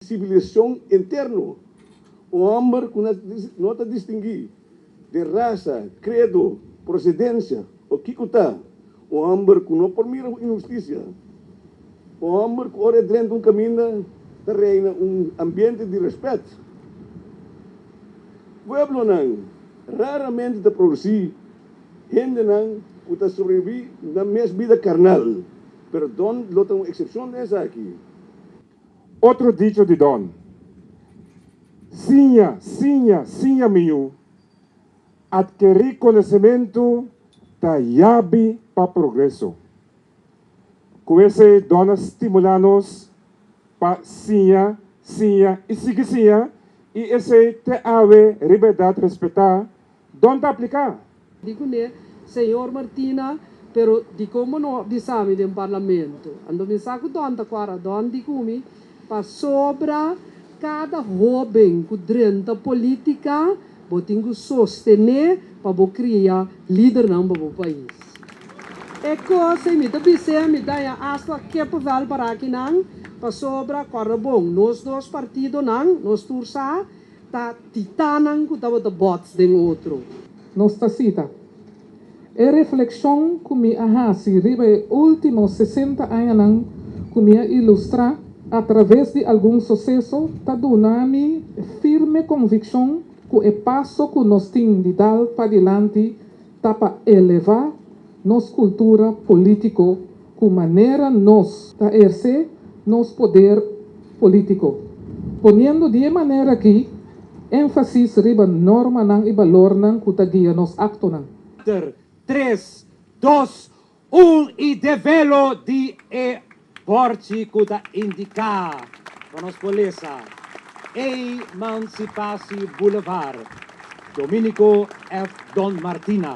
Civilisacion interno, un homber cu no ta distingui den rasa, credo, procedencia o kico ta, un homber cu no por mira cu inhusticia, un homber cu ora e drenta un caminda ta reina un ambiente di respet. Pueblonan raramente ta produci hendenan cu ta sobrevivi nan mes bida carnal Pero Don lo ta un excepcion den esaki. Otro dicho di Don, Siña, siña, siña mi yu, adkeri conocemento ta yabi pa progreso. Cu esey Don a stimula nos pa siña, siña y sigui siña y esey te awe riba edad respeta Don ta apliká? Di kuné, Señor Martina, pero dikon bo no a bisa mi den Parlamento? Anto mi sa ku Don ta kuadra Don di ku mi, pasobra kada hóben ku drenta polítika bo tin ku sostené pa bo kria lidernan pa bo pais. E kos ei mi ta bis'é, mi daña asta kippenvel paraki nan, pasobra kuadra bon, nos dos partidonan, nos tur sa, Ta titanan ku tabata bòts den otro. Nos ta sita. E reflekshon ku mi a hasi riba e último sesenta añanan ku mi a ilustrá atraves di algun suseso ta duna mi e firme konvikshon ku e paso ku nos tin di dal padilanti ta pa elevá nos kultura polítiko ku manera nos ta ersé nos poder polítiko, poniendo di e manera akí énfasis riba normanan i balornan ku ta guia nos aktonan. Ter. Tres, dos, Un i develo di e bòrchi ku ta indiká pa nos por lesa Eimansipasi Boulevard, Dominico F. Don Martina.